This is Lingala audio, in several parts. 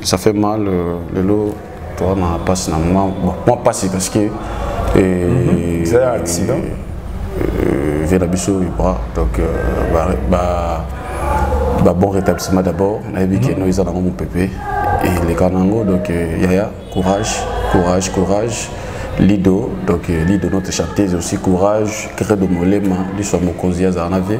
ça fait mal euh, lelo toa na mpasi na mwa mpasi parce que mhm. c'est un accident euh, vie na biso ibra donc euh, ba, ba, ba bon rétablissement d'abord nayebi ke mhm. no eza nango mopepe eleka nango donc yaya courage courage courage lido donc lido notre chanteuse aussi courage credo molema liso ya mokonzi azala na vie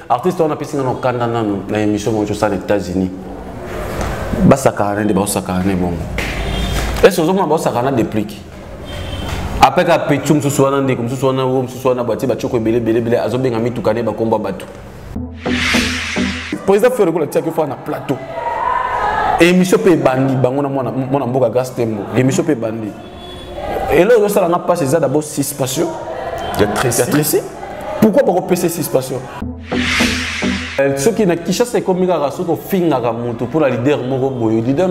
artiste wana apesi nga na okanda nanu na émission moko tosala na états-unis basakana nde baosakana ne bongo ese ozomona baosakana deplique apres ka petu mosusu wana ndeko mosusu wana o mosusu wana batie batioko ebele ebelebele azobenga mituka ne bakombo ya bato président fere kola tiaki ofaa na plateau émission mpe ebandi bango na mwana mboka grace tembo émission mpe ebandi eloko ezosala nga mpasi eza dabo suspension ya tresi pourquoi bakopesa suspension euh, soki na kinshasa ekomi kaka soki ofingaka motu mpo na lider moko boye lider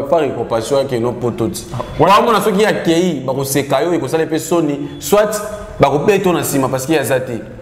par ecompassion yake no poto ti wana omona soki akei bakoseka yo ekosala mpe soni soit bakobeto na nsima parce que aza te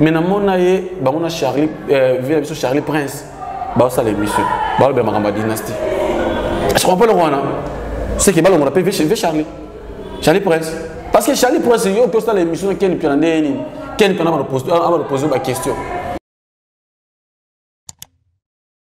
mais namona ye bango na charlie euh, vie na biso charlie prince baosala émission balobela makambo ya dynastie je comprends eloko wana seke balongola mpe vie charlie charlie prince parce que charlie prince yo oki osala émission na ken mpiana ndenge nini ken mpiana abalopose baquestion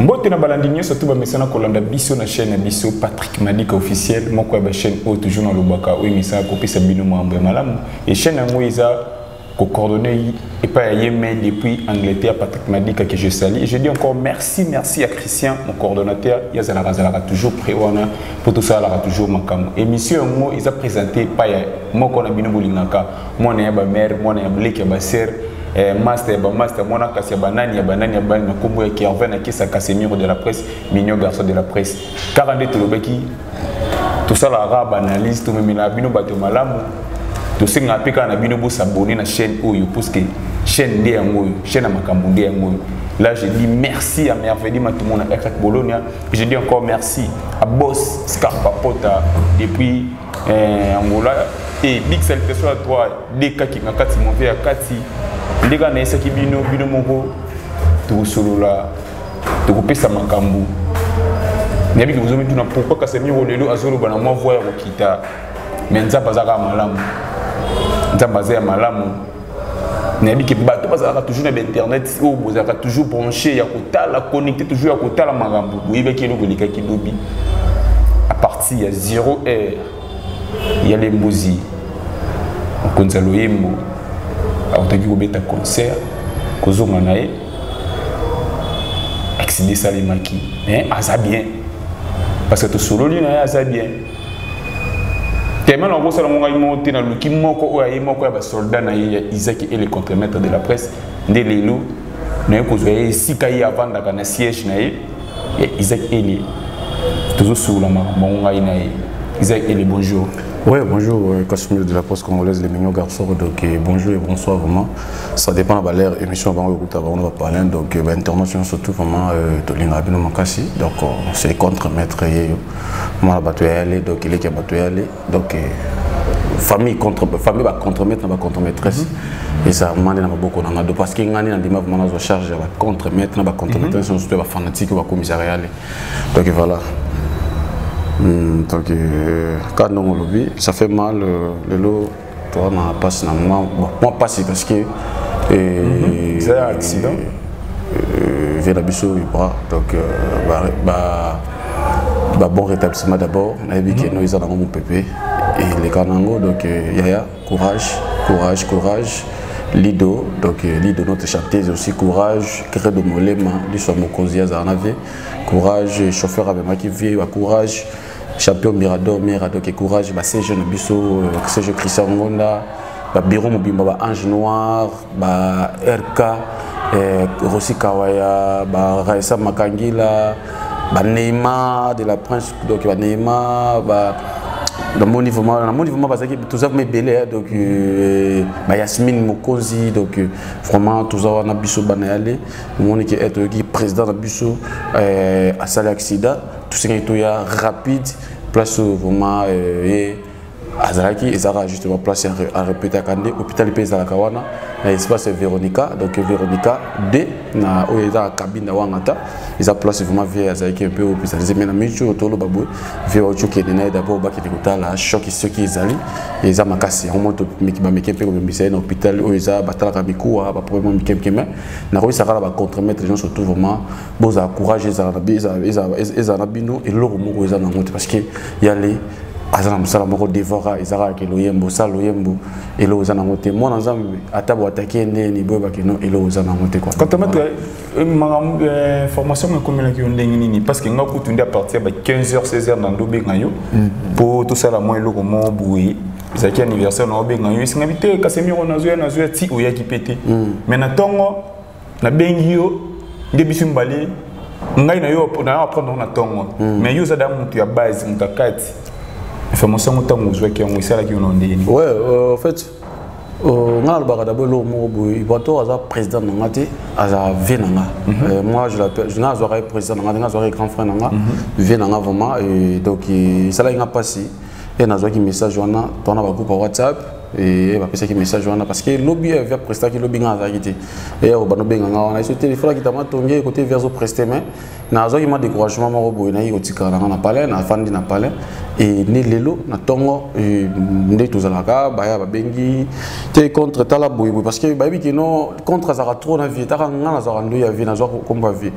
mbote na balandi nyonso to bamesana kolanda biso na chaîne ya biso patrick madika officiel moko ya bachaîne oyo toujours nalobaka oyo emesana kopesa bino mambo ya malamu e chaîne yango eza coordonné pas à Yémen depuis Angleterre, Patrick Madika que je salue. Et je dis encore merci, merci à Christian, mon coordonnateur. Il y a toujours prévoir mpo tosalaka toujours makambo émission yango eza présente epai ya moko na bino bolingaka mwana ya bamare mwana ya bleke ya basere eh, master ya bamaster mwana kasi ya banani ya banani ya bani na nkombo ya kervin akisa casemiro de la presse mignon garçon de la presse kaka nde tolobaki tosalaka baanalyse tomemelaka bino bato ya malamu tosengaka mpe kaka na bino bosabone na chaîne oyo puiske chaîne nde yango oyo chaîne ya makambo nde yango oyo là je dis merci à merveille matumona ekak bolonia Je dis encore merci à Boss Scarpa Pota depuis euh, Angola et big salutation à toi Deka qui m'a kati mon père kati ndeka na esaki bino bino moko tokosolola tokopesa makambo nayebi bozo mituna pourkui kasemiro lelo azoloba na mwa voi ya kokita me nzambe azalaka malamu nzambe aza ya malamu nayebi ke bato bazalaka toujours na bainternet oyo bozalaka toujours branché ya kotala connecté toujours ya kotala makambo boyebaki eloko elekaki lobi à partir ya 0 heure ya lembozi mokonzi ya loyembo akotaki kobeta concert kozonga na ye accident esalemaki mais aza bien parce que tosololi na ye aza bien tellement nakosala ngo ngai moko te naluki moko oyo aye moko ya basoldat na ye ya isaki et le contremaître de la presse nde lelo naye kozwa ye esika ye avandaka na siège na ye ya isaac elie tozosukula makambo yango ngai na ye isaac elie bonjour Oui, bonjour, euh, Casimir de la Poste Congolaise, les mignons garçons. Donc, euh, bonjour et bonsoir vraiment. Ça dépend de l'heure émission avant le groupe on va parler. Donc, euh, ben, international surtout vraiment, euh, Tolina Abino Makassi. Donc, c'est contre maître. mwana bato ya yale donc eleki ya bato ya yale donc eh, famille contre famille ba contremaître na ba contremaîtresse mm -hmm. eza mande na maboko na nga do parce que ngani na ndima vraiment nazo charge ya ba contremaître na ba contremaîtresse mm -hmm. surtout ba fanatique ba commissariat yale donc voilà mm, donc euh, ka ndongo lobi ça fait mal euh, lelo toi ma passe na moi bon moi passe parce que et mhm. c'est un accident euh, via la biso bras donc euh, bah, bah bah, bon rétablissement d'abord nayebi ke no eza nango mopepe eleka nango donc euh, yaya courage courage courage lido donc euh, lido notre chanteuse aussi courage credo molema liso ya mokonzi azala na vie courage chauffeur amemaki vie ya courage champion mirador mirado ke courage basejo na biso euh, sejo christian ngonda babiro mobimba ba ange noir ba rk eh, rosi kawaya ba raisa makangila ba neymar de la prince donc ba neymar ba namoni vraiment namoni vraiment bazalaki toza vraimen ebele donc euh, ba yasmine mokonzi donc euh, vraiment toza wana biso bana yale omoni ke eh, toyoki président na biso asali accident tosengeli toya rapide place oyo vraiment euh, ye azalaki ezalaka justement place arepetaka nde hôpital mpe ezalaka wana na espace veronica donc veronica d na oyo ezalaka cabine na wangata eza place vraiment vie azalaki mpe oyo spécialise mai na mingi oyo toloba boye vie oyo okende na ye dabord bakende kotala choc soki ezali eza makasi yango moto bameke mpe kobembisa ye na hôpital oyo eza batalaka mikuwa baproblème mikemike mai nakoyisaka na bacontremaître nyonso tout vraiment bozala courage ezala na bino eloko moko eza nango te parce que ya le aza na mosala moko devora eza kaka ke loyembo osala loyembo eloko eza nango te mwana nzambe ata boatake ye ndeni boyebake no eloko eza nango te katametre eh, makambo eh, formation ekomelaki yo ndenge nini parce que nga kutu nde apartir ya ba 15 heures 16 heures na ndo obenga yo mpo mm. tosala mwa eloko moko boye ezalaki anniversaire na obenga yo esingaki te kasi miro nazwa nazwa ti oyaki mpe te mm. mais na ntongo nabengi yo nde biso mibale ngai na yo na yo apprendre na ntongo hmm. mais yo oza da moto ya base moto ya kati information yango ntango ozwaki yango esalaki yo na ndenge nini ouais euh, en fait euh, ngai nalobaka d'abord eloko moko boye ibato aza président na ngai te aza vie na ngai mhm. euh, moi je l'appelle ngai azwaka ye président na ngai te ngai azwaka ye grand frère na ngai mhm. vie na ngai vraiment donc esalaki ngai mpasi ye nazwaki message wana tona bagroupe ya whatsapp eye bapesaki message wana parce que lobi ya via prestaki lobi ngai azalaki te eye oyo banobenga ngai wana eso te efolaki tama tonge kote via azo preste mai nazwaki ma découragement moko boye nayei kotikala na ngai na palais nafandi na palais e ne lelo na ntongo e, nde tozalaka baya babengi te contre tala boyeboye parce que bayebi kino contre azalaka trop na vie taka ngai nazalaka ndoi ya vie nazwa kombo ya vie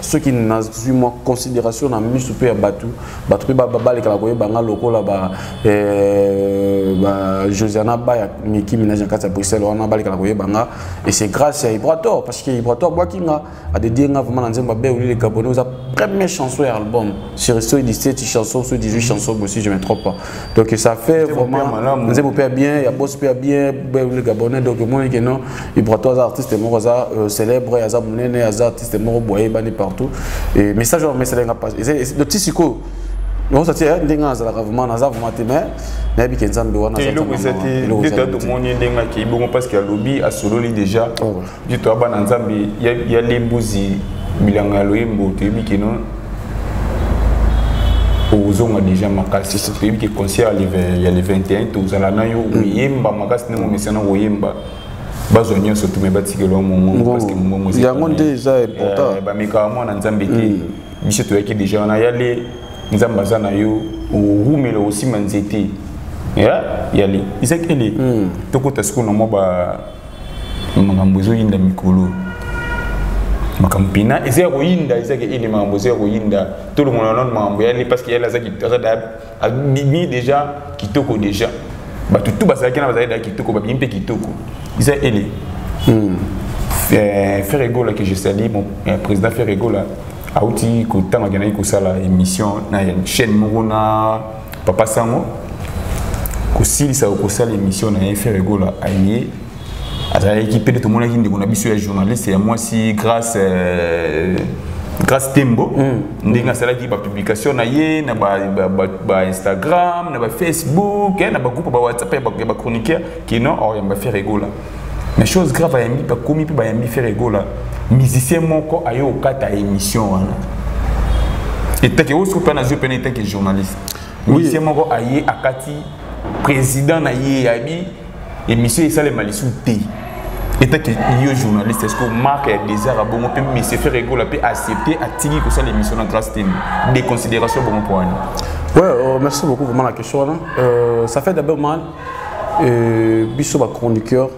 soki nazwi mwa considération na miso mpe ya bato bato mpe balekala koyeba nga lokola ba eh, josiana ba ya miki minage na kati ya bruxelles wana balekala koyeba nga et c'est grâce ya ibrator parce que ibrator abwaki nga adedie nga vraiment na nzembo abe oli le gabonais oza première chanson ya album sur soki 17 chanson soki 18 chanson bosi je me trompe pas donc ça fait vraiment nzembo mpe ya bien ya bos mpe ya bien le gabonais donc omoni ke non ibrato aza artiste moko aza euh, célèbre aza monene aza artiste moko boye ayebani partout et message oyo amesala nga pas donc ti sikoyo nakosa ti eh, ndenge azalaka vraiment naza vraiment te mais nayebi ke nzambe wana eloko ezati nde tomoni ndenge akei bongo parce que alobi asololi déjà oh, Jito ya bana nzambe ya lembuzi bilanga ya loyembo toyebi kino ozonga déjà makasi toyebi ke concert ya le 21 tozala na yo mm. oyemba makasi ndenge omesana koyemba bazwa nyonso tume batikela mongongoyango nde eza important eh, bamekaka mwana nzambe te mm. biso toyaki déjà wana yale nzambe aza na yo orumela osima nzete yale ezakele mm. tokota sikoyo na mwa na makambo ezoyinda mikolo makambo mpena eza ya koyinda ezaki ene makambo eza ya koyinda tolongola nano makambo yale parce que yale azabimi déjà kitoko déjà bato tu bazalaki na bazalaki da kitoko babimi mpe kitoko eza ele hmm. eh, ferre egola que je sali mon eh, président ferre egola auti kotanga akendaki kosala émission na chaîne moko na papa sango kosilisa okosala émission na ye ferre gola aye azalaki mpe tomonaki ndeko na biso ya journaliste ya mwasi grace euh, grace tembo mm. ndenge asalaki bapublication na ye na bainstagram na bafacebook eh, na bagroupe bawhatsapp ya bachroniqueur kino oriamba ferre gola mais chose grave ayambi bakomi mpe bayambi fere egola musicien moko aye kokata émission wana etake oyo soki mpe nazwi mpena etake journaliste musicien moko aye akati président na ye yabi émission esalema lisusu te etake yo journaliste est ce que mark ya désert abongo mpe monsieur fere egola mpe accepte atiki kosala émission na grace tem déconsidération bongo mpo wana Ouais, euh, merci beaucoup vraiment la question. Hein. Euh, ça fait d'abord mal. euh, biso ba chroniqueur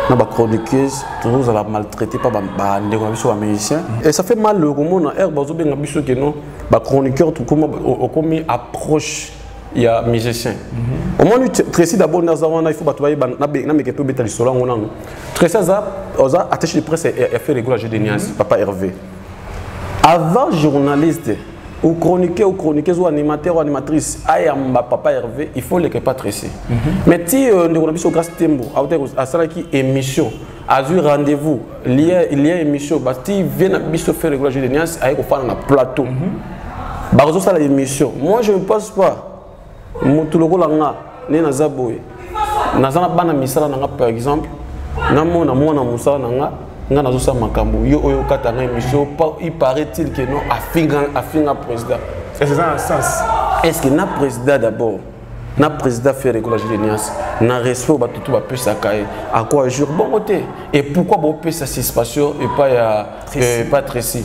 na ba chroniqueuse tozozala maltraité pa bandeko na biso ba musicien mm. et ça fait mal komona aire bazobenga biso ke non ba chroniqueur tokoma okomi approche ya musicien mm-hmm. omoni tracy d'abord naza wana il faut bato bayeba nameke mpe obeta lisolo yango nano tracy aza oza attaché de presse ya faire regula jeu de niance mm-hmm. papa hervé avant journaliste au chroniquer au chroniqueuse ou animateur ou animatrice ayamba papa Hervé il faut leke Patricie mm -hmm. mais ti euh, ndeko na biso grâce tembo asalaki émission azwi rendez-vous lien lien émission ba ti vie na biso faire regular jeu de niance aye kofana na plateau mm -hmm. bakososala émission moi je ne pense pas mutu lokola nga nde naza boye naza na bana misala na nga par exemple namona mwana mosala na nga nga nazosala makambo yo oyo okata nga émission il paraît-il que non afinga afinga président eza na sens est ce que na président d'abord na président ferre ekola julenias na respect oyo bato to bapesaka ye akwa jour bongo te et pourquoi bopesa suspension epai ya epai tracy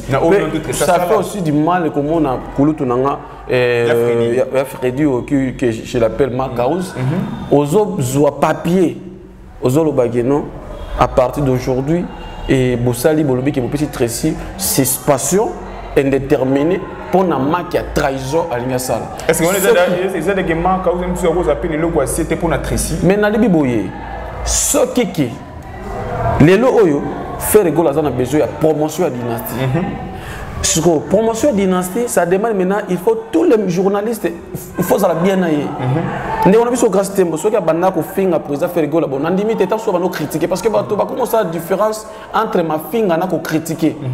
ça fait aussi du mal komona kulutu na nga Eh, ya Freddy, ya, ya Freddy oh, que, que je l'appelle Macaus mm -hmm. ozo zwa papier ozo lobaki non à partir d'aujourd'hui et bosali bolobi ke bopesi Tracy suspension indéterminée mpo na maki ya trahison alingi asala ezalaki maka oza apeli eloko asie te mpo na tracy mais nalibi boye soki ke lelo oyo ferre gola aza na besoin ya promotion ya dynastie mm -hmm. sikoyo promotion dynastie ça demande maintenant il faut tous les journalistes il faut ozala bien na ye mhm. ndeko na biso grace tembo soki abanda kofinga président ferigola bon nandimi te ntango soki abanda kocritiquer parce que bato bakomi osala différence entre mafinga na kocritiquer mhm.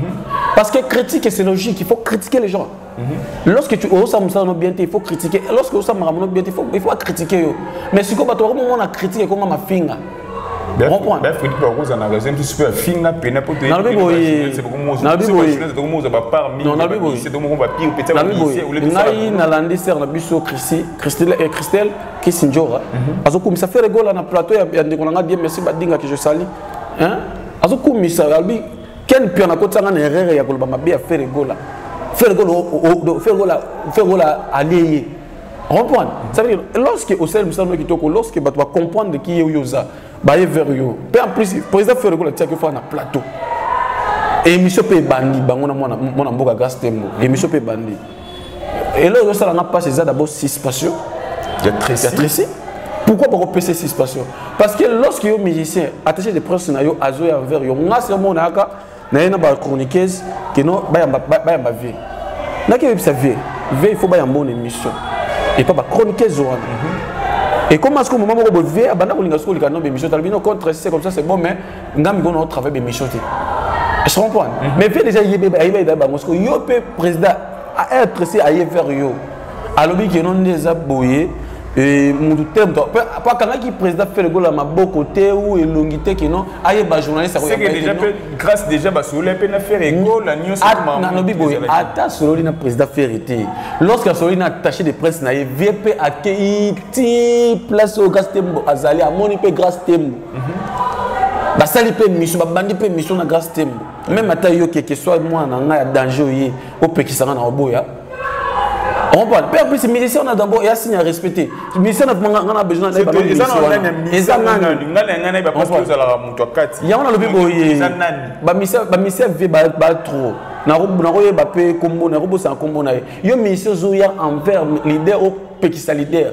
parce que critique c'est logique il faut critiquer les gens Mhm. Lorsque tu oses ça no bien il faut critiquer. Lorsque oses ça bien il faut il faut critiquer yo. Mais si ko bato ko mona critique ko ma finga. Comprendre. Bref, il faut qu'on en raison tu super finga pena pour te. Na bi boye. Na bi boye. C'est comme moi ba part mi. Non, na bi boye. C'est donc on va pire peut-être na bi boye. Ngai na landi sœur na biso Christi, Christelle et Christelle qui sinjora. Mhm. Azo kumisa faire gola na plateau ya ndeko na ngai bien merci badinga que je sali. Hein? Azo kumisa albi ken pion akotisanga na erreur ya koloba mabe ya fere gola fere gola fere gola fere gola alie ye comprendre ça veut dire lorsque osali mosala no kitoko lorsque bato bacomprendre ki ye oyo oza baye vers yo mpe en plus président fere gola atiaki ofaa na plateau émission mpe ebandi bango na mwana mboka gastembo émission mpe ebandi eloko ezosala nga mpasi eza d'abord suspension ya tresi pourquoi bakopesa suspension parce que lorsque yo musicien attaché de presse na yo azoya envers yo nga se omona yaka na ye na bachroniqueuse keno bayamba vie naki oyebisa vie vie il faut bayamba ona émission epa bachroniqueuse wana mhm. Et comment est-ce que moment où Bové a banda kolinga soko likano be mission talbino contre c'est comme ça c'est bon mais nga miko na travail be mission te je comprends mhm. mais pe déjà yebe ba yebe ba ngosko yo pe président a être si aye vers yo alobi ke non neza boye et mutu te mutu po akangaki président fele gola maboko te ou elongi te kino ayeba journaliste akoyaadeja mpe grâce déjà basololi mpe na fere gola nyonsonalobi boye ata asololi na président fere te lorsque asololi na attaché de presse na ye vie mpe akei ti place oyo grâce tembo azali amoni mpe grâce tembo basali mpe miso babandi mpe miso na grace tembo meme ata yo keke soit mwana na ngai ya danger oye opekisanga na oboya comprendre mpe plus musicien wana d'abord ya signe ya respect te musicien nafumanga nga na besoin na eza nanyango nalobi boye bamisien vie ba trop nakoyeba mpe kombo nakobosana kombo na ye yo musicien ozoya envers leader opekisa leader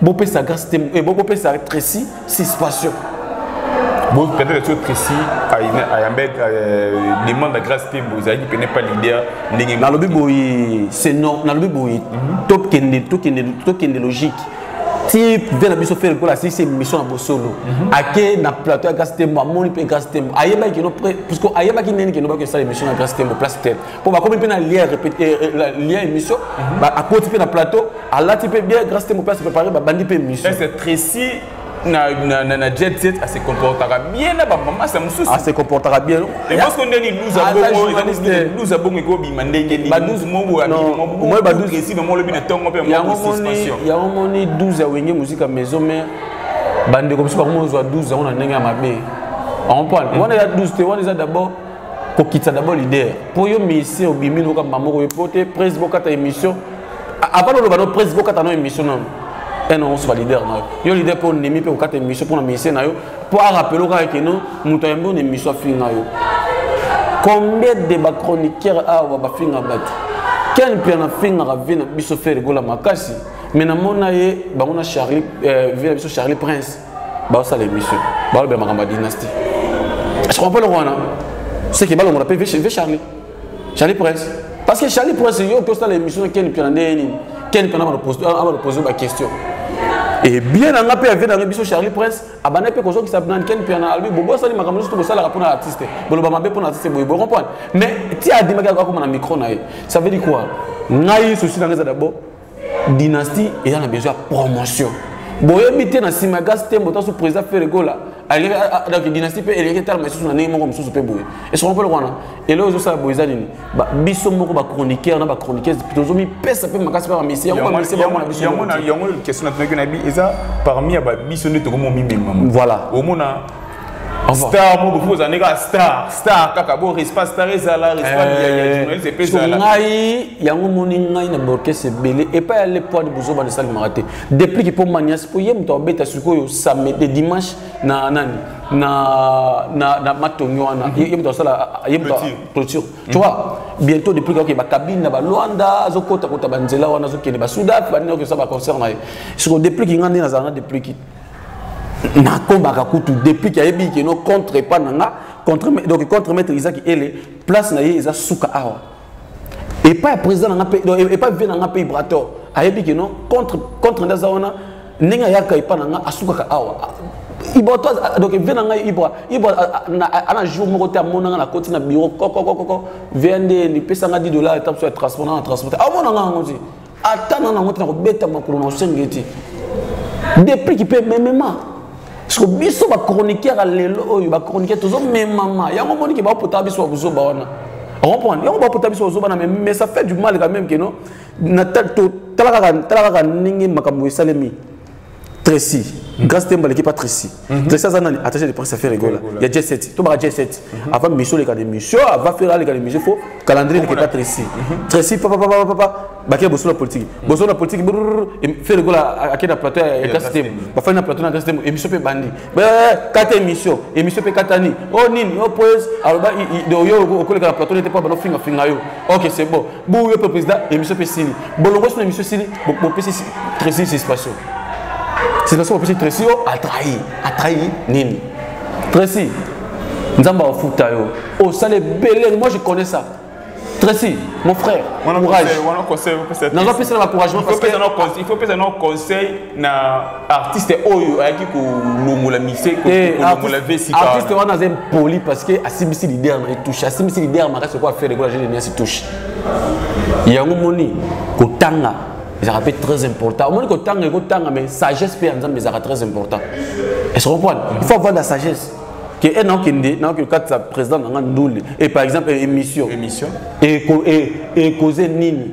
bopesa grâce te eh, bopesa tracy suspension peut-être que précis ayambe euh, demande la grâce te bozalaki pene pas leader ndenge nalobi boye c'est non nalobi boye mhm. tokende tokende tokende logique ti mpe na biso fere lokola asilisi émission na bosolo mhm. ake na plateau ya grâce tembo amoni mpe grâce tembo ayebaki kino puisque ayebaki ndeni kino baki osala émission na grâce tembo place tele mpo bakomi mpe na lien eh, eh, émission mhm. akoti mpe na plateau alati mpe bien grâce te mope ase préparé babandi mpe émission tracy na, na, na, na jet set ase comportaka bien na bamamasa mosusu ase comportaka bien ebasko nde liluza bongoiluza bongo ekobima ndenge ninibaduzipressive mo olobi na ntongo mpe yango moni 12 ya wenge mosika maison mare bandeko biso bakomozwa 12 yango na ndenge ya mabe on comprendre wana eza 12 te wana eza d'abord kokitisa d'abord leader mpo yo musicien obimi loka mbambo oyo mpo te prese bokata émission avant oloba no prese bokata no émission nano ena osuba leader na yo yo leader mpo ondimi mpe kokata émission mpo na musicien na yo mpo arapele okaka keno moto ayambi ona émission afinga yo combien de bachroniqueur awa bafinga bato ken mpe anafingaka vie na biso fere gola makasi me namona ye bango na charlie euh, vie na biso charlie prince basala émission balobela makambo ya dynastie comprends le wana c'est que balongola mpe ve charlie charlie prince parce que charlie prince yo oki osala émission na ken mpiana ndenge nini ken mpiana abalopose baquestion ebien na nga mpe ave na nga biso charlie prince abanda mpe kozokisa nan ken mpiana alobi bobo asali makambo nyonso tokosalaka mpo na artiste boloba mabe mpo na artiste boye boye comprendre mais ti adimaki akoma na micro na ye ça veut dire quoi ngai souci na nga eza d'abord dynastie eza na besoin ya promotion boyebi te na nsima ya gasi tembo taso président feregola donc dynastie mpe eleki etalama lisusu na ndenge moko mosusu mpe boye esoko mpe lokwana eloko ezosala boye eza nini biso moko bachroniqueur na bachroniqueuse tozomipesa mpe makasi mpe bamisi yango bamisi bango na biso yango question natunaki na bi eza parmi ya babiso nde tokomi omimemama voilà omona star mobo fo ozali kaka star star kaka bo respa star ezala respajournaliste eh, epe ezala ngai yango moni ngai na baorkestre ebele epai ya le poids de bozoba na esalemaka te deplique mpo manias mpo ye moto abeta sikoyo samedi dimanche na nani na na na matongi wana mhm. ye moto asala ye moto clôture tu mhm. vois bientôt depuis que ba cabine na ba Luanda azokota kota ba nzela wana azokende ba Soudan ba nini okesa ba concert na ye siko depuis kinga nde nazala na depuis nakombaka kutu depuis ke ayebi keno contre epa na nga contre, donc contre maître isaki ele place na ye eza suka awa epa ya président na nga mpe epa vie na nga mpe ibrator ayebi keno contre, contre nde aza wana ndenge ayaka epa na nga asukaka awa ibra to donc vie na ngai ibra ibra ana jour moko te amona ngai nakoti na bureau kokokokoko vie nde nipesa ngai 10 dollar etape so ya transport na na transporte amona ngai yango te ata na nango te na kobeta makolo na osengi ye te depuis kipe ememema siko biso bachroniqueur ya lelo oyo bachroniqueur tozomemama yango omoni ke baopotaka biso babuzoba wana comprendre yango bapota biso bazoba na meme mais ça fait du mal quand même que non tala kaka ndenge makambo esalemi Tracy mm. Grace Temba l'équipe pas Tracy mm -hmm. Tracy Azanani attaché de presse à faire rigola il y a J7 tout bas J7 mm -hmm. avant mission les cas de mission va faire aller cas de mission faut calendrier l'équipe pas Tracy mm -hmm. Tracy papa papa papa papa bakela boso na politique mm. boso na politique faire rigola à quel plateau ya Grace Temba ba faire na plateau na Grace Temba émission pe bandi kata eh, eh, émission émission pe katani oh nini oh poise alors ba de yo au collègue la plateau n'était pas bon finga finga yo OK c'est bon boyo mpe président émission mpe esili bolongosi na émission esili bopesi tracy suspension suspension bopesi tracy o atrahi atrahi nini tracy nzambe akofuta yo osala ebele moi je connais ça Tracy, mon frère, courage. Nous avons fait ça dans l'encouragement. Il faut faire un conseil. na artiste oyo ayaki kolongola mise eh, kolongola vesi artiste wana aza impoli parce que asimbisi leader na etouche asimbisi leader makasi okoa faire ekola jeune niasi touche yango moni kotanga ezalaka mpe très important omoni kotanga ekotanga mais sagesse mpe ya nzambe ezalaka très important est ce comprendre il faut avoir la sagesse ke e naokende naoki okatisa président na nga ndule e par exemple émission émission ekoze nini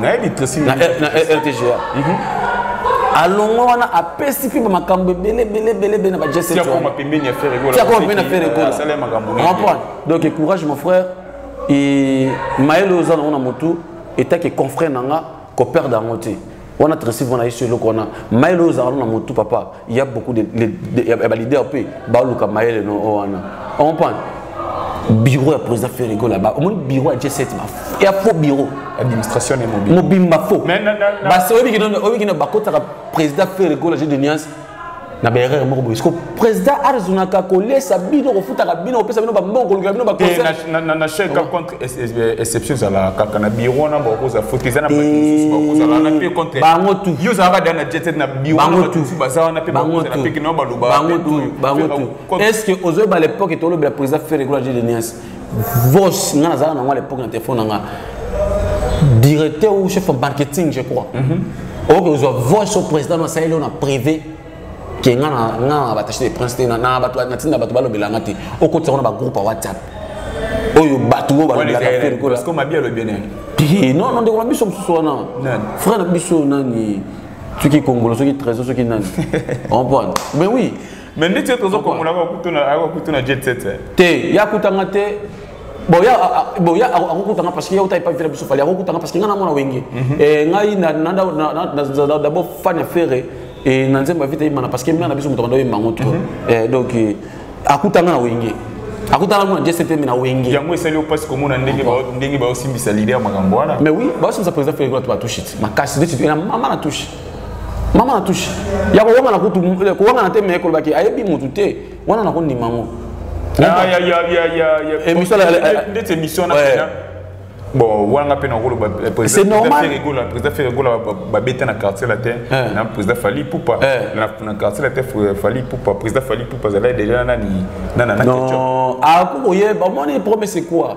nayebi tresi na rtga mhm. alongwe wana apesi mpe bamakambo ebele ebele ebele ebele na bajesetiakoma pembeni ya feregola donc courage mon frère mayele oyo oza nango na motu etake confrère na nga koperde yango te wana tresi mpona yesu eloko wana mayele oyo ozalaka na motu papa il y a beaucoup de, de, de, de ba leader pe ba luka mayele no oh, wana on comprend bureau ya président Ferrigo là-bas au moins bureau ya G7 ba il y a faux bureau administration et mobile mobile ba faux mais non non ba c'est obi kino obi kino ba kota président Ferrigo la j'ai de nuance na ba erreur moko boye siko président arzunaka kolesa bino kofutaka bino kopesa bino bambongo kolukela bino baconseil na chèque exception ezalaka kaka na biro wana bakozala foti eza na bato mosusu bakozala wana mpe contre bango tu yo ozalaka da na jetet na biro wana bato mosusu baza wana mpe bakozala mpe kino baloba bango tu bango tu est ce que ozoyeba l'époque etolobela président ferre egola jede nias vos nga nazalaka nango à l'époque na telefone na nga directeur ou chef marketing je crois mhm. oyoki ozwa voice au président nasaleli oyo na privé ke nga na nga na batache de prince te na na bato na tinda bato balobela nga te okotisa ngo na bagroupe ya whatsapp oyo bato oyo balobelaka te lokola parce que mabi alobi nani te non non ndeko na biso mosusu wana frère na biso nani soki kongolo soki trésor soki nani comprendre mais oui mais ndeti yo tozo kongola akokuta na jet set te ye akutanga te boya boya akokutanga parce que ye auta epai fela biso fali akokutanga parce que ngai namona wenge mhm. eh, ngai d'abord fan ya ferre eh, na nzembo ya vita yemana parce que mna na biso moto kanda oyemba yango trop mhm. eh, donc akutanga na wenge akutana kuna gsp na wenge yango esali opasi komona ndenge ndenge baosimbisa lide ya makambo wana mais oui baosimbisa président fela to batushe ti makasi neti na mama na tushe mama na tushe ya kowangana kutu kowangana te me kolobaki ayebi motu te wana nakondima yango ndeti émission na bon wana mpe nakoloba président ferregola babeta na quartier latin na président fali pupa na quartier latin fali pupa président fali pupa azalaki déjà nani nanana akokoyeba omoni promese quoi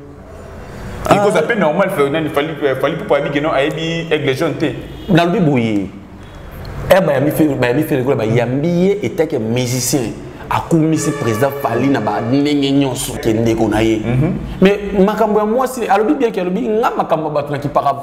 Ah. Ikoza ape normal Ferdinand fali fali pupa abi que non ayebi aigle jaune te. Na lobi boye. Eh ba yambi fe ba yambi fe ko ba yambi ye etake musicien. akumisi président fali na bandenge nyonso ke ndeko na ye mhm. mais makambo ya mwasi alobi bien ke alobi nga makambo ya bato na kipaka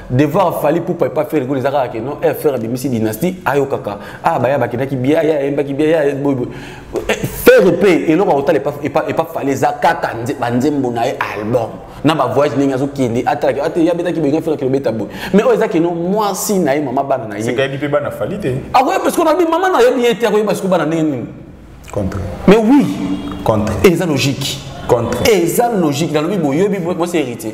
devoir fali pupa epa fere kolo eza kaka ke non eh, fere abimisi dynastie ayokaka ah baya bakendaki bia ya ayembaki bia ya boyboy eh, fere mpe eloko akotala epa fali eza kaka banzembo na ye album na bavoyage ndenge azokende atalaki ate ye abetaki boyinga fere kilobeta boye mais oyo eza keno mwasi na ye mama bana na ye sekayebi mpe bana fali te akoyeba siko nabi mama na yebi ye te akoyeba siko bana ndenge nini contre mais oui contre eza logique contre eza logique nalobi boyebi bosi héritier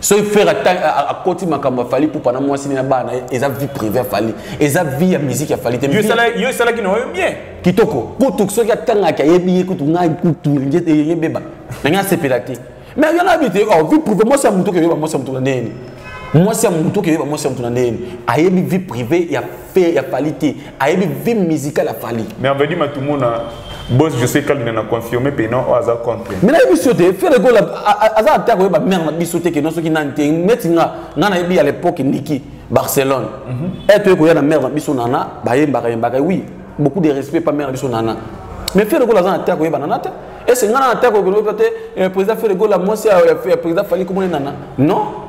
soki frère akoti makambo ya fali pupa na mwasi na bana eza vie privé ya fali eza vie ya musique ya fali te yo esalaki na oyo bien kitoko kutu soki atangaki ayebi ye kutu ngai kutu yebeba nangai asepela te mais yo nayebi te oh, vie privé mwasi ya motu okeyeba mwasi ya motu na ndeni mwasi ya motu okeyeba mwasi ya motu na ndeni ayebi vie privé ya Pe ya Fally te. Ayebi vie musicale ya Fally. Mais on va dire matumona boss je sais kalina na confirmer pe non aza contre. Mais na biso te fere gola aza attaque oyeba mère na biso te ke non soki nante neti nga nga na yebi à l'époque Niki Barcelone. Mm -hmm. Et tu ko ya na mère na biso nana ba yembaka yembaka oui beaucoup de respect pa mère na biso nana. Mais fere gola aza attaque oyeba nana te. Et c'est nga na attaque oyeba te eh, président fere gola moi c'est eh, président Fally comment nana. Non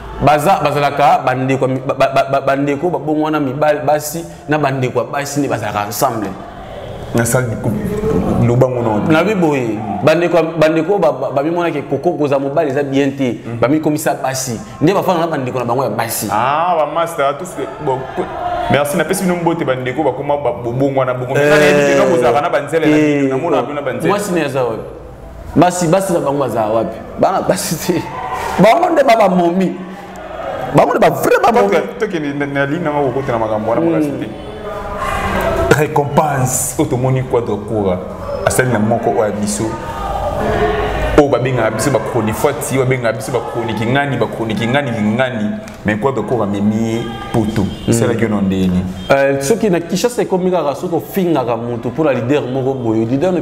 baza bazalaka bandeko bandeko babongo wana mibali basi na bandeko ya basi nde bazalaka ensemble nabi boye bandeko bamimonaki ekoko koza mobali eza bien te mhm. bamikomisa basi nde bafana na bandeko na bango ya basi ah, merci napesi bino mbote bandeko bakoma bobongwana bongo eh, kozalaka na banzela eh, na bino na banzela mwasi ne aza wapi basi basi na bango bazala wapi bana basi te bango nde babamomi bango nde bavrai bamomitokendinalinaokotela makambo wana makasi te hmm. récompense oyo tomoni quadre coura asali na moko oyo ya biso oyo babengaka biso bachronifuati oyo babengaka biso bachroni kingani bachroni kingani kingani mais quoi bekoko amemi ye poto hmm. esalaki yo na ndenge nini euh, soki na kishasa ekomi kaka soki ofingaka motu mpo na leader moko boye leader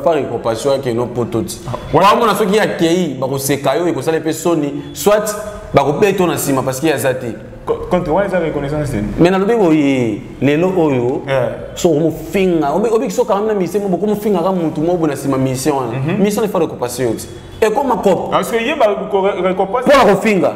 pas récompassion yake no poto ti waamona ah, soki akei bakoseka yo ekosala mpe soni soit bakobeta yo na nsima parce que aza te contre wana eza reconnaissance te mais nalobi boye lelo oyo soki omofinga obiki soki kangami na mission moko okomofingaka motu moko boye na nsima mission wana mission efa récompassion yo ti ekoma kopo mpona kofinga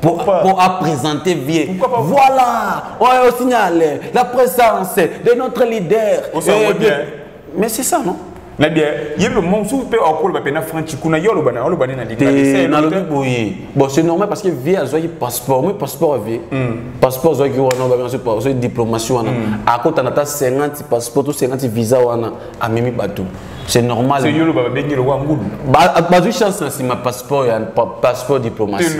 pour, pour à présenter vieux. Voilà, on est au signal, la présence de notre leader. On s'en euh, bien. Mais c'est ça, non na bien ye le monde sous pe okolo ba pena franchi kuna yo loba na loba na lidi te na lobi boye bon c'est normal parce que vie azwaki passeport moi passeport vie hmm. passeport azwaki wana ba bien support so diplomatie wana hmm. akota na ta 50 passeport to 50 visa wana amemi bateau c'est normal c'est yolo baba bengi lokola ngulu bazwi chance na nsima passeport ya passeport diplomatie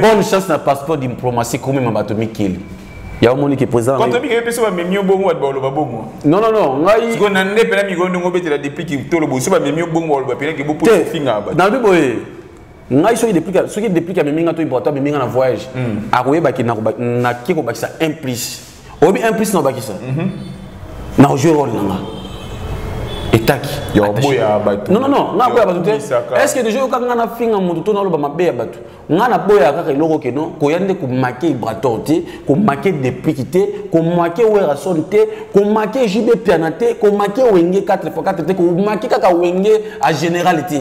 bonne chance na passeport diplomatie komema bato mikili yango omoni ke président quand obi ke peso ba memi obongo wa boloba bongo non non non ngai siko na nde pela mikondo ngo betela depuis ki tolo boso ba memi obongo wa pela ke bopo finga ba na bibo e ngai soki depuis soki depuis ka memi nga to iboto memi nga na voyage hmm. akoyeba ki na na ki ko bakisa 1 plus oyebi un plus na obakisa mhm. na ojue role na nga etaki yaboya bato non non non nga boya bato te est ce que déjà yoka nga na finga moto to naloba mabe ya bato nga na boya kaka eloko ke non koya nde komake ibrator te komake depliki te komake werason te komake jb piana te komake wenge 4 x 4 te komake kaka wenge a général te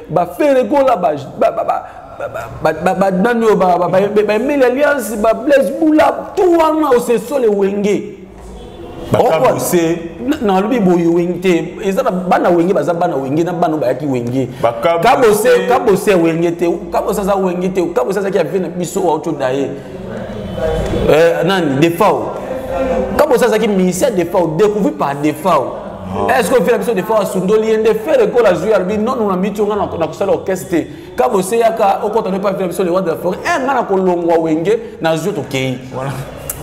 ba fere kola ba ba ba ba ba nani oyo ba ba ba emeli alliance ba blaise bula tout wana osesole wenge bakabuse nalobi boye wenge te eza na bana wenge baza bana wenge na bana bayaki wenge kabose kabose wenge te kabose aza wenge te kabose azaki ya vie na biso auto daye euh, nani defao kaka bosi azalaki ministère defao découvri par defao ah. est-ce que ofela biso defao asundoli ye nde fere ekola azwi alobi nono na miti onga na kosala orchestre te kaka bosi eyaka okota nde mpe afela biso le roi de la forêt e nga na kolongwa wenge nazwi tokei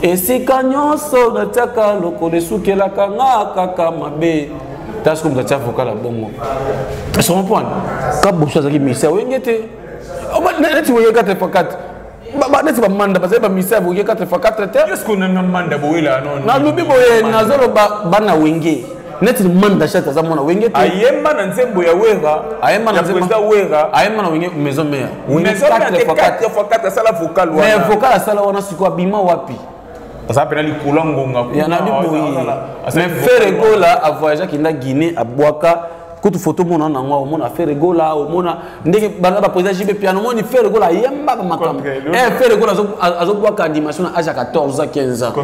esika nyonso natiaka lokolo esukelaka nga kaka mabe taske moto atia vocal ya bongo esomopwana kaboso azalaki misia oyenge te neti oyekate pakate neti bamanda bazali bamisa boye 4 fois 4 te nalobi boye nazoloba bana wenge neti manda chat aza mwana wenge te ayemba na nzembo ya wera ayemba na nzembo ya wera ayemba na wenge maison mère wenge 4 fois 4 asala vocal wana mais vocal asala wana siko abima wapi aza mpena likolo ya ngonga yanabi boye mais fere gola avoyageaki nda guinée abwaka kutu foto omona nango omona fere gola omona ndenge bana baprésident jb piano omoni fere gola ayembaka makambo eh, fere gola azobwaka animation na age ya 14 15 ans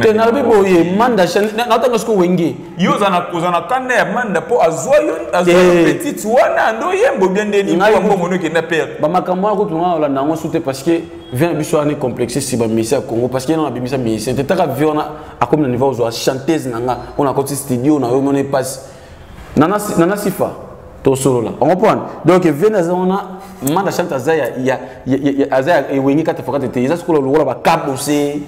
te nalobi boye manda naotanga siko wenge yo ozana kozana kanda ya manda mpo azwa yo azwa yo eh. petite wana ando yembo bia nde nini mpo mbongo no ekenda pere bamakambo wana kutu ngai olanda yango sute parce que vient biso wana complexe si bamisi ya congo parce que yena nabimisa musicien te taka vie wana akomi na niveau ozwa chanteuse na nga mpo nakoti studio na yo mona epasi nana sifa tosolola okomprendre donc vie naza wana manda chante aza ya aza ya ewenge kati fokate te eza sikola lokola bakabose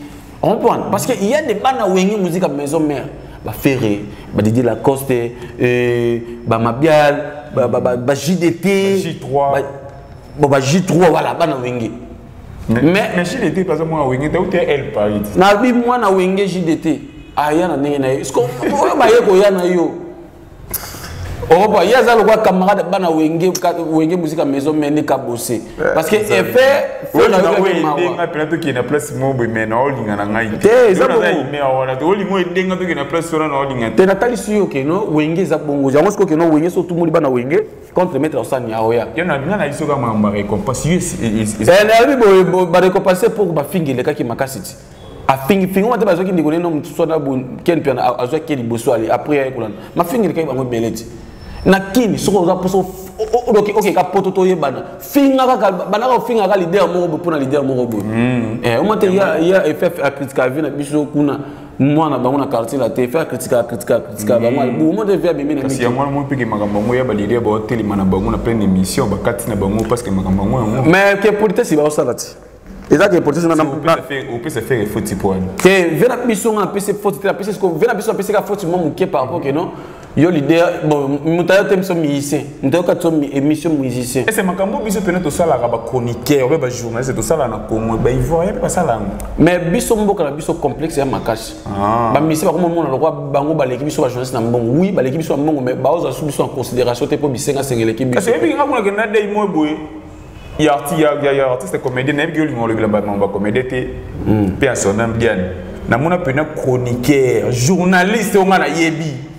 comprendre parce que il y a des bana wenge musique à maison mère ba ferre ba Didi Lacoste euh, ba Mabial ba, ba, ba, ba JDT ba J3 ba, bon ba J3 voilà bana wenge mais mais JDT par exemple moi wenge ta ou t'es elle Paris na bi moi na wenge JDT aya na ndenge na ye est-ce que oyo baye koya na yo okopa ye aza lokola camarade bana wenge wenge musika maison mende kabose eh, parce que effet olinga pela tokende na place moko boye mai na olinga na ngai te eza wana te olinga edenga tokende na place wana na olinga te natalisi yo keno wenge eza bongo yango siko keno wenge so otumoli bana wenge contre maître osani ya oya yo na nga na biso kaka makambo ya récompense yo eh, nayebi boye barécompense mpo bafingi elekaki makasi ti afingifingi wana te bazwaki ndeko neno mosusu wana ken mpe azwaki ye liboso ale apres aye kolanda mafingilikaki bango ebele ti na kini soki oza mposo okeka poto toyebana finga kaka bandaka ofinga kaka lider moko boye mpo na lider moko boye hmm. eh, omate ya eff akritika vie na biso kuna mwana bango na quartier la te faire critika critika critika bango hmm. bo mo te faire bimi na kasi ya mwana mo peke makambo ngo ya balele ba telema na bango na pleine émission bakati na bango parce que makambo ngo mais que politesse ba osala ti eza ke proteste na opesa fere foti mpo wana te ve na biso nga apesi foti te apesi siko ve na biso apesika foti mwa moke par rapport ke non yo leader bon moto ayo te biso musicien moto ayoka biso émission musicien ese makambo biso mpena tosalaka bachroniqueur obe bajournaliste tosalaka na congo baivoirien mpe basala yango mais biso mboka na biso complexe ya makasi ah. bamisien bakoma mona lokwa bango baleki biso bajournaliste na mbongo wi baleki biso na mbongo mais baozwa su biso na considération te mpo bisengasenga eleki biso kasi oyebi nga kuna kenda dei moi boye ya artiste ya ya artiste comédien nayebi ke olinga olobela ba mamba comédien te hmm. pe en son nom bien namona pena chroniqueur journaliste onga nayebi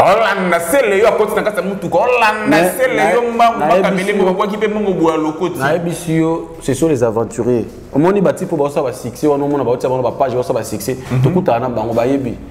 olanda sele yo akoti na kati ya motuka olanda sele yo mbangu bakamilembo bakwaki mpe mbongo boya lokoti nayebisi yo ce sont les aventuriers omoni batipo baosala basuccès wana omona baotia bango bapage baosala basuccès mhm. tokutana na bango bayebi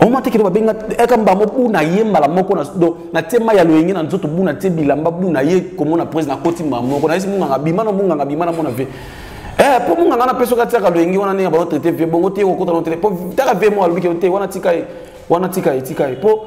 omwa te kino babenga eka mbamo buna ye mbala moko na do na tie mai ya loyenge na nzoto buna tie bilamba buna ye komona presi na koti mbala moko na yesi munganga bima na munganga bima na mona ve eh mpo munganga na peso katiaka loyenge wana ndenge baotraite vie bongo te okokota no te mpo taka vie mo alobi kino te wana tika ye wana tika ye tika ye mpo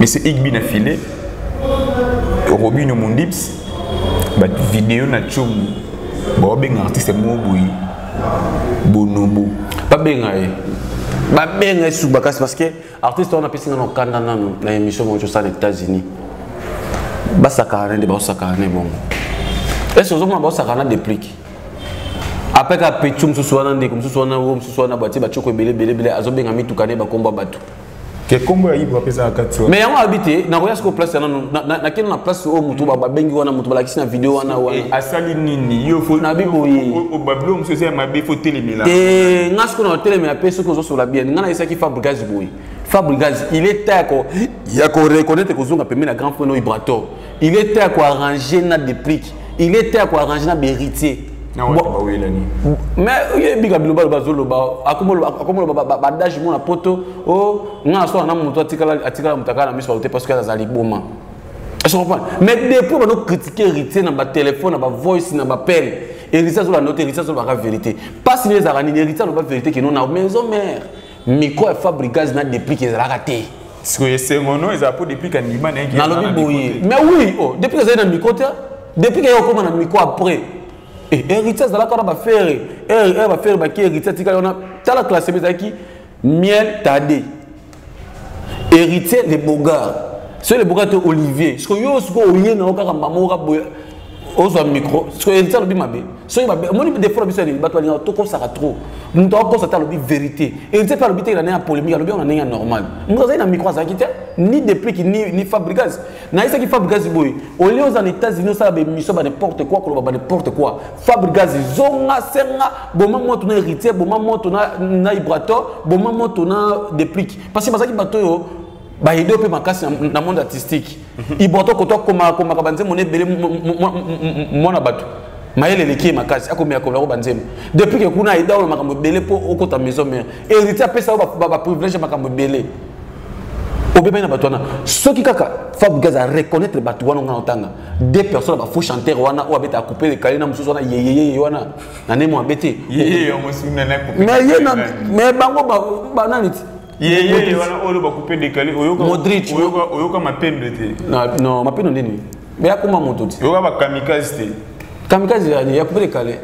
Monsieur Igbi na filet, Robino Mundips, ba vidéo na tchomu, ba benga artiste mo boyi, bonobo. Ba benga ye. Ba benga ye sous bakas parce que artiste on a pesi na kanda na na émission mo tchosa na États-Unis. Ba sakana nde ba sakana ne bongo. Est-ce que vous avez ba sakana déplique? apres kaka petu mosusu wana ndeko mosusu wana o mosusu wana batie batioko ebele ebele ebele azobenga mituka ne bakomba bato ke kombo ya ibra mpe ezalaka kati mais yango abi te nakoya sikoyo place ya nanu nakende na place oyo motu babengi wana motu balakisi na video wana wana eh, asali nini yo nabi boye obabilo mosusu eza ya mabe fo telemela te eh, nga sikoyo na otelemela mpe soki ozosola bien nga nayesaki fabrigage boye fabrigage il est temps ya koreconnaitre kozonga pembe na grand point no ibrator il est temps ko arranger na deplique il est temps ko arranger na beritier mais oyebika biloba loba azoloba akomoloba badage mona poto o oh, nga aswana na moto atikala moto akala na miso baute parce que aza liboma je comprends mais depuis bano critiquer héritier na batelefone na bavoice na bapele héritier azolanda yo te héritier azolobaka vérité mpasi nini ezalaka nini héritier aloba vérité kino na maison mare micro ya fabrigaz na deplique ezalaka te sikoyo esengo no ezala mpo deplique andima na yeke nalobi boye mais oui oh, deplique ezali na micro te deplique eye okoma na micro après eh, héritier azalaka wana bafere eh, eh, bafere baki héritier atikali wana tala classema ezalaki miel tade héritier le bogard soki le bogard te olivier sikoyo yo sikoyo oye na yo kaka mama oka boye ozwa micro soki elisa alobi mabe soki mabe omoni defo na biso yanini bato balingaka tokosaka trop moto akokosa te alobi vérité elisa mpe alobi te na ndenge ya polémique alobi yango na ndenge ya normal moto azali na micro azalaki te ni deplic ni, ni fabrigas nayesaki fabrigas boye olie oza na états-unis osala baémission ba n'importe quoi koloba ba n'importe quoi fabrigas zonga senga boma moto na héritier boma moto na, na ibrator boma moto na deplic parce que bazalaki bato oyo baede mpe makasi na monde artistique iboto koto akomakomaka banzembo na ebele mwana bato mayele eleki ye makasi akomiyakola yango banzembo depuis ke kuna aida oyo makambo ebele mpo okota maison mare héritier apesa yango baprivilège ya makambo ebele obebani na bato wana soki kaka fabrigas a reconnaître bato wana nga otanga deux personnes ya bafaux chanteur wana oyo abeta akupe lekali na mosusu wana yeyeyeye wana na nemo abete mais bango banani ti yeyeye wana oyo oloba coupe décalé oyoka Modric. oyoka oyoka mapendo te Na- non mapendo nini me akoma moto te oyoka ba kamikaze te kamikaze ya ya coupe décalé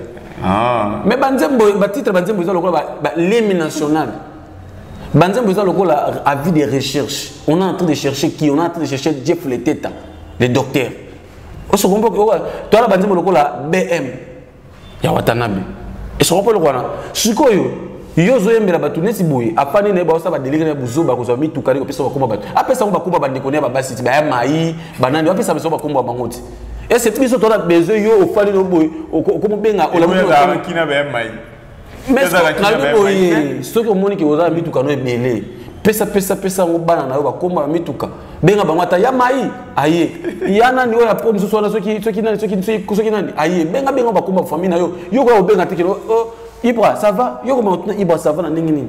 ah me banzembo batitre banzembo eza lokola ba- ba- l'hymne national banzembo eza lokola avis de recherche on est en train de chercher qui on est en train de chercher jeff leteta le docteur oso comprend que oka- toala banzembo lokola bm ya watanabe esoko mpo eloko wana sikoyo yo ozoyembela bato neti boye apani na ye baosa badelike na ye buzoba kozwa mituka nde kopesa bakoma bato apesa yango bakoma bandeko na ye babasi ti baya mai banani bapesa biso bakombo ya bango ti ese biso tona besoin yo ofali no boye okomobenga olamuki na baya mai nayebi boye soki omoni ke oza na mituka no ebele pesa pesa pesa yango bana na yo bakoma na mituka benga bango ata ya mai aye ya nani oyo apo mosusu wana soki soki nani soki soki nani aye benga benga bakoma famille na yo yo koya kobenga te kelo oh, ibra ça va yo koma kotuna ibra ça va na ndenge nini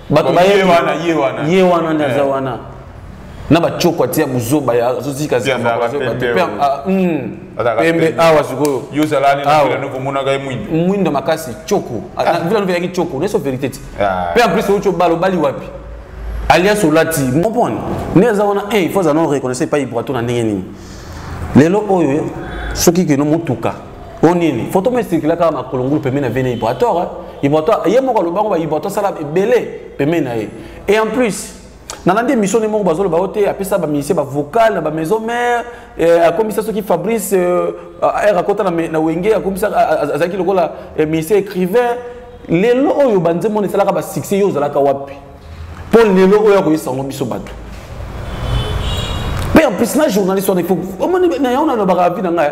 bato baye wana ye wana ye wana nde aza wana na bacoko atia buzoba ya azotika zambapembe ah, hmm. awa sikoyo mwindo makasi coko ah, ah. vila novelaki coko neso verité ti mpe en plus oyo cobalo obali wapi alias olati comprendre nde aza wana il faut aza na reconnaissance epai brato na ndenge nini lelo oyo soki keno motuka o nini foto mo esirkila kaka na kolongulu pembeni na vene ibratoire eh? ibratoire ye moko alobango ba ibratoire sala ebele pembeni na ye et en plus nalandi émission ne moko bazoloba yo te apesa bamusicien bavocal na bamaison mare eh, akomisa soki fabrice eh, r akota na wenge akomisa azalaki lokola eh, musicien écrivain lelo oyo banzembo na esalaka basuccès yo ozalaka wapi mpo lelo oyo akoyesa yango biso bato mpe en plus na journaliste wana omoni na yango nalobaka avi na ngai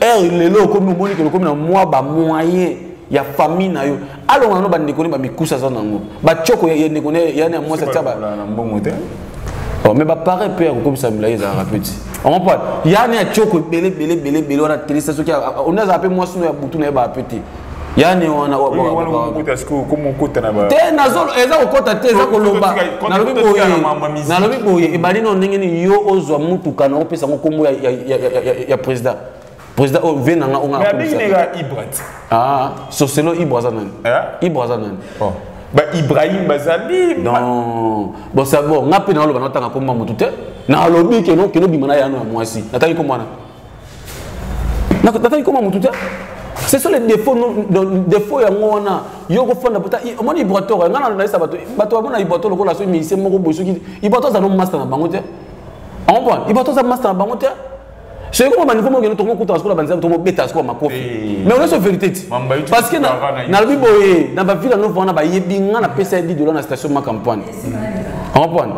heure lelo okomi omoni kelo okomi na mwa bamoyen ya famille na yo alonga nano bandeko ne bamikusa aza nango bacoko ya ndeko ne yani ya mwasi atya mbongo te oh, mais bapare mpe ya kokomisa milai ezalaka mpe ti omopa yani ya coko ebele ebele ebele ebele wana telesa soki one azala mpe mwasi no ya butu na ye baa mpe te yani wana te nazolo eza kokota te eza koloba nalobi boye nalobi boye ebandi no ndenge nini yo ozwa motuka na opesa yango nkombo ya président président oyo vie nanga ongaabinega ibrat ah, soselo ibra aza nani eh? ibra aza nani oh. ba ibrahim bazali non bon sa bon nga mpe naloba natanga nkombo ya motu te nalobi keno keno bima na yano ya mwasi natangi nkombo wana nataki koma motu te ce sont les défauts défaut yango wana yo okofanda pota omoni ibrator ya ngai nayesa bato bato bamona ibrator lokola soki musicien moko boye soki ibrator aza no master na bango te ompone ibrator aza master na bango te soki koma baniveau moko kende tokokutana sikola banzela tomobeta sikola makofi eh. mais oyoso vérité ti parce que nalobi boye na bavile anovo wana bayebi ngai napesa ye 10 dola na station makampoine ompone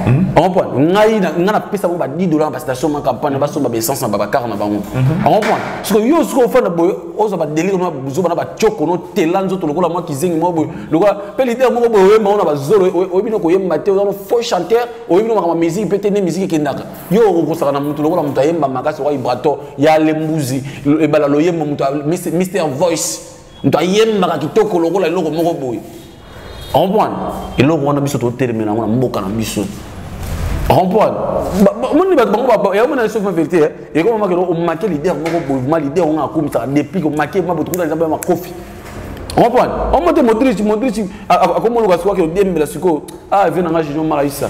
Hmm? Comprendre ngai na nga na pesa ba 10 dollars ba station ma campagne ba somba ba essence na ba car na bango. Hmm. Comprendre ce que yo ce que ofanda boy oza ba délire na buzo ba na ba choko no telanzo to lokola moi kizengi mo boy lokola pe leader mo boy oyemba ona ba zolo oyebino ko yemba te oza faux chanteur oyebino makama musique peut-être ne musique kendaka. Yo okosaka na mutu lokola mutu ayemba makasi wa vibrato ya lembuzi ebala loyemba mutu Mr Voice moto ayembaka kitoko lokola eloko moko boye comprendre eloko wana biso totelemela yango na mboka na biso comprendre moni bato bango yaomona na sofa verité eh? ekomamaka eloko omake lider moko boye ma lider onga akumisaka deplic omake ma botukuta eza baya makofi comprendre omote modric modric akomoluka sikoyo akendembela sikoyo ah vie nanga junior maraisa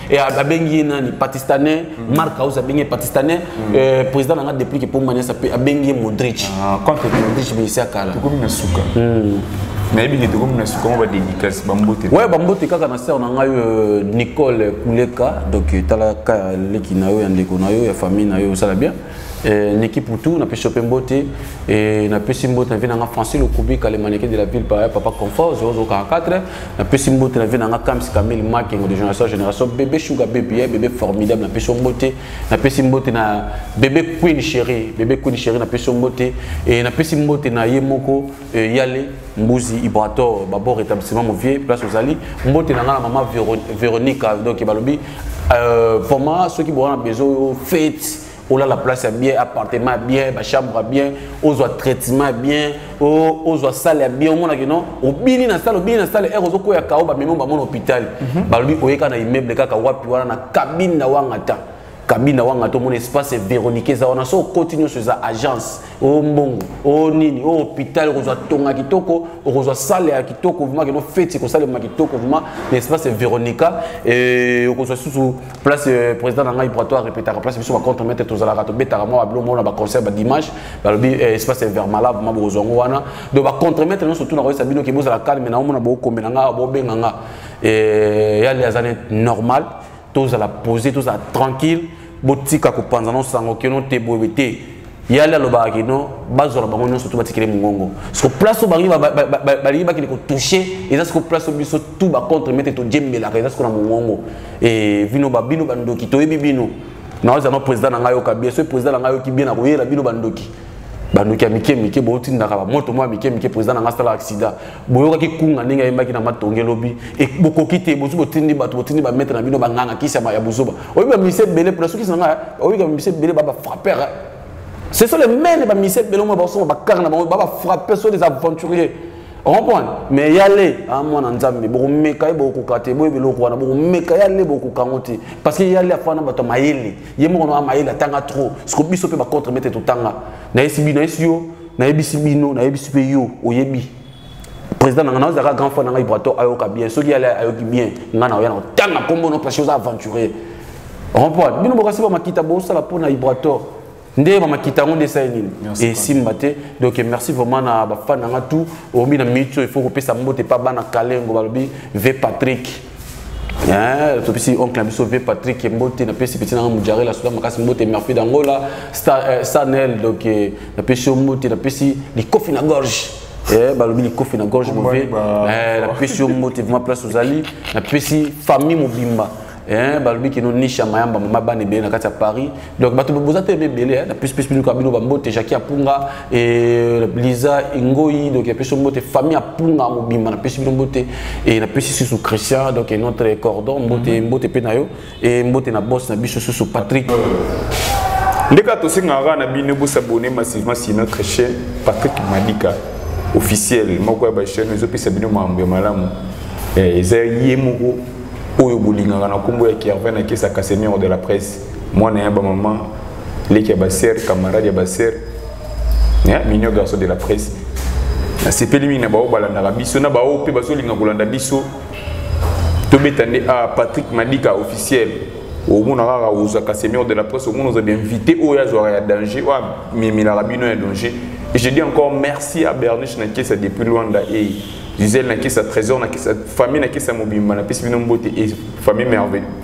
Et abengi ye nani pakistanais mm. mark house abengi ye pakistanais mm. euh, président na nga depuis ke pomba nyasa pe abengi ye modric ah, contre modric bisi akala tokomi na suka mm. nayebi nde tokomi na suka ngo badédicace bambote ouais bambote kaka na sœur na ngai euh, nicole kuleka donc euh, tala ka leki na yo ya ndeko na yo ya famille na yo osala bien Eh, Niki Poutou, na pesi ope mbote eh, na pesi mbote na vie nanga Francine Okubika le mannequin de la ville par papa confort 0044 na pesi mbote na vie nanga Kams Camille Makengo de génération génération bébé Sugar bébé eh, bébé formidable na pesi mbote na pesi mbote na bébé Queen chérie bébé Queen chérie na pesi mbote et eh, na pesi mbote na ye moko Euh, yale mbuzi ibrator babor établissement movie place ozali mbote na ngai na mama véronica donc balobi euh, poma soki boza na besoin oyo fete olala place ya bien appartement ya bien bachambre ya bien ozwa traitement ya bien ozwa sale ya bien omonaki non obini na sale obini na sale ere ozokwea kao bamemi bamona hôpital mhm. balobi oyeka na immeuble kaka wapi wana na kabine na wangata kabina wanga tomona espace veronique eza wana so okoti nyonso eza agence o mbongo o nini o hôpital okozwa tonga kitoko okozwa sale ya kitoko vrima keno feti kosalema kitoko vrima na espace veronica okozwa susu place euh, président na ngai brato arepetaka place biso bacontre mete tozalaka tobetaka mwa babilo mona baconcert badimanche balobi euh, espace vermala vrima bokozwa yango wana donc bacontre mete nyonso tuna koyesa bino ke bozala calme na omona bokomela nga bobenga nga yali aza ne normal tozala pose tozala tranquille botika kopanza no sango kino te boye te yali alobaka kino bazwaka bango nyonso to batikele mongongo siko place oyo bangi balingi bakende kotouche eza siko place oyo biso tu bacontre mete tojembelaka eza siko na mongongo eh, bino babino bandoki toyebi bino naoza no président na ngai yoka bien soki président na ngai yoki bien nakoyela bino bandoki bandoki ya mike mike bootindaka bamoto mwa mike mike président na ngai asala accident boyokaki kunga ndenge ayembaki na matonge lobi e, bokoki te bozi botindi bato botindi bametre na bino banganga kisi ya buzoba oyebi bamise ebele mpona sokisi na ngai oyebi bamise ebele ba bafrappere ce sont les mêmes bamise ebele omo basoma bakare na bango babafrappe so des aventuriers ocomprendre mais yale a mwana nzambe bokomeka ye bokokoka te boyebi eloko wana bokomeka yale bokokoka yango te parce que yale afana na bato ya mayele ye moko na mayele atanga trop siko biso mpe bacontre mete totanga nayesi bi nayesi yo nayebisi bino nayebisi mpe yo oyebi président na ngai nazalaka grand frère na ngai brato ayoka bien soki yale ayoki bien ngai naoya na kotanga nkombo no parce oza aventurier remport bino bokasi bamakita bosala mpo na ibrator nde bamakita yango nde esali nini esimba te donc merci vraiment na bafan na ngai tout omi na minute oyo il faut kopesa mbote mpa bana kalengo balobi ve patrick Eh, topesi oncle na biso vie patrick mbote napesi peti nanga mojarela soda makasi mbote merfi dangola eh, sanel donc eh, napesi yo mbote napesi likofi na gorge eh, balobi likofi na gorge move napesi yo mbote vrima place ozali napesi famille mobimba balobi kino nisha mayamba mama bana ebele na kati ya paris donc bato boza te ebele hein, na plus plus biluka bino bambote jaki apunga e, liza ingoi donc napesi mbote famille apunga mobimba napesi bino mbote e, napesi susu christian donc notre cordon mbote mhm. mbote mpe na yo e mbote na bos na biso susu patrick ndeka tosengaka na bino bosabone massivement sima christian patrick madika officiel moko ya bachaine ezopesa bino makambo ya malamu eza ye moko oyo bolingaka na nkombo ya kervin akesa casemiro de la presse mwana ya bamama leki ya basere camarade ya basere eh, minio garçon de la presse nasepeli mingi na baoyo balandaka biso na baoyo mpe bazolinga kolanda biso tobeta nde a ah, patrick madika officiel omona kaka ozwaka seigneur de la presse omona oza bainvité oyo azwaka ya danger oyo amemelaka bino ya danger et je dis encore merci à berniche na kesa depuis luanda e gisele na kesa trésor na kesa famille na kesa mobimba napesi bino mbote e famille merveille